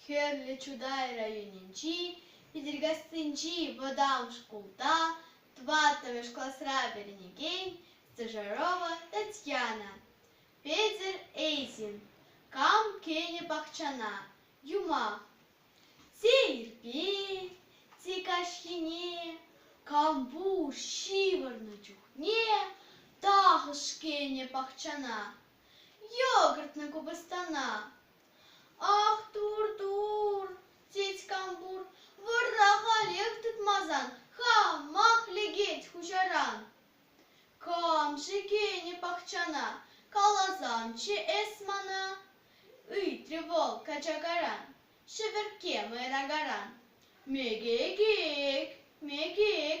Хӗрлӗ Чутай районӗнчи Питӗркассинчи вӑтам шкулта тӑваттӑмӗш класра вӗренекен стажерова Татьяна Петӗр Эйзин кам кӗнӗ пахчана юмах сейрпе те каҫхине кампуш ҫывӑрнӑ чухне тахӑш кӗнӗ пахчана йогуртна купӑстана Ах, тур-тур, тет Кампур, вӑрра халех тытмасан хамах лекет хуҫаран. Кам-ши кӗнӗ пахчана, каласамччӗ эс мана? ыйтрӗ вӑл качакаран, ҫӗвӗркке мӑйракаран. Мекек, мекек,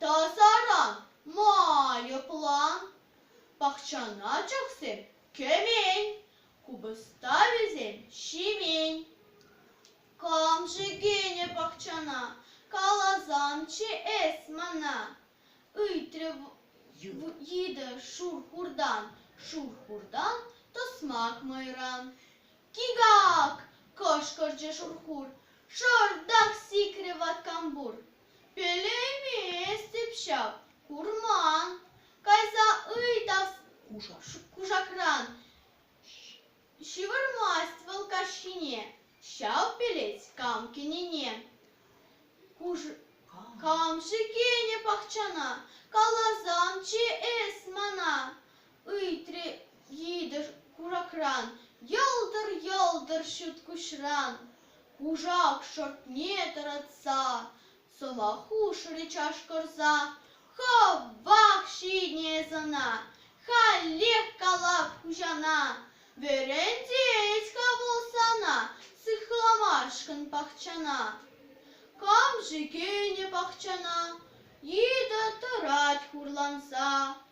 Тасаран майӑплан. Пахчана чӑхсем кӗмен, купӑста вӗсем ҫимен. Кам шикленӗ пахчана, каласамччӗ эс мана. Ыйтрӗ йытӑ шур-хурдан, шур-хурдан тӑсмак мӑйран. Кик-ак! кӑшкӑрчӗ шур-хур, шӑртах сикрӗ ваткампур. Пӗлейместӗп ҫав, курман. Кайса ыйтас кушакран ҫывӑрмасть вӑл каҫхине. Ҫав пӗлет кам кӗнине. Кам шикенӗ пахчана, каласан чи эс мана. ыйтрӗ йытӑ куракран. Йӑлтӑр-йӑлтӑр ҫут куҫран кушак шортне тӑратса сӑва хушрӗ чашкӑрса. Хӑвах ҫине сана, халех калап хуҫана. Вӗрентет-ха вӑл сана сыхламашкӑн пахчана. Кам-ши кӗнӗ пахчана? Йытӑ тӑрать хурланса.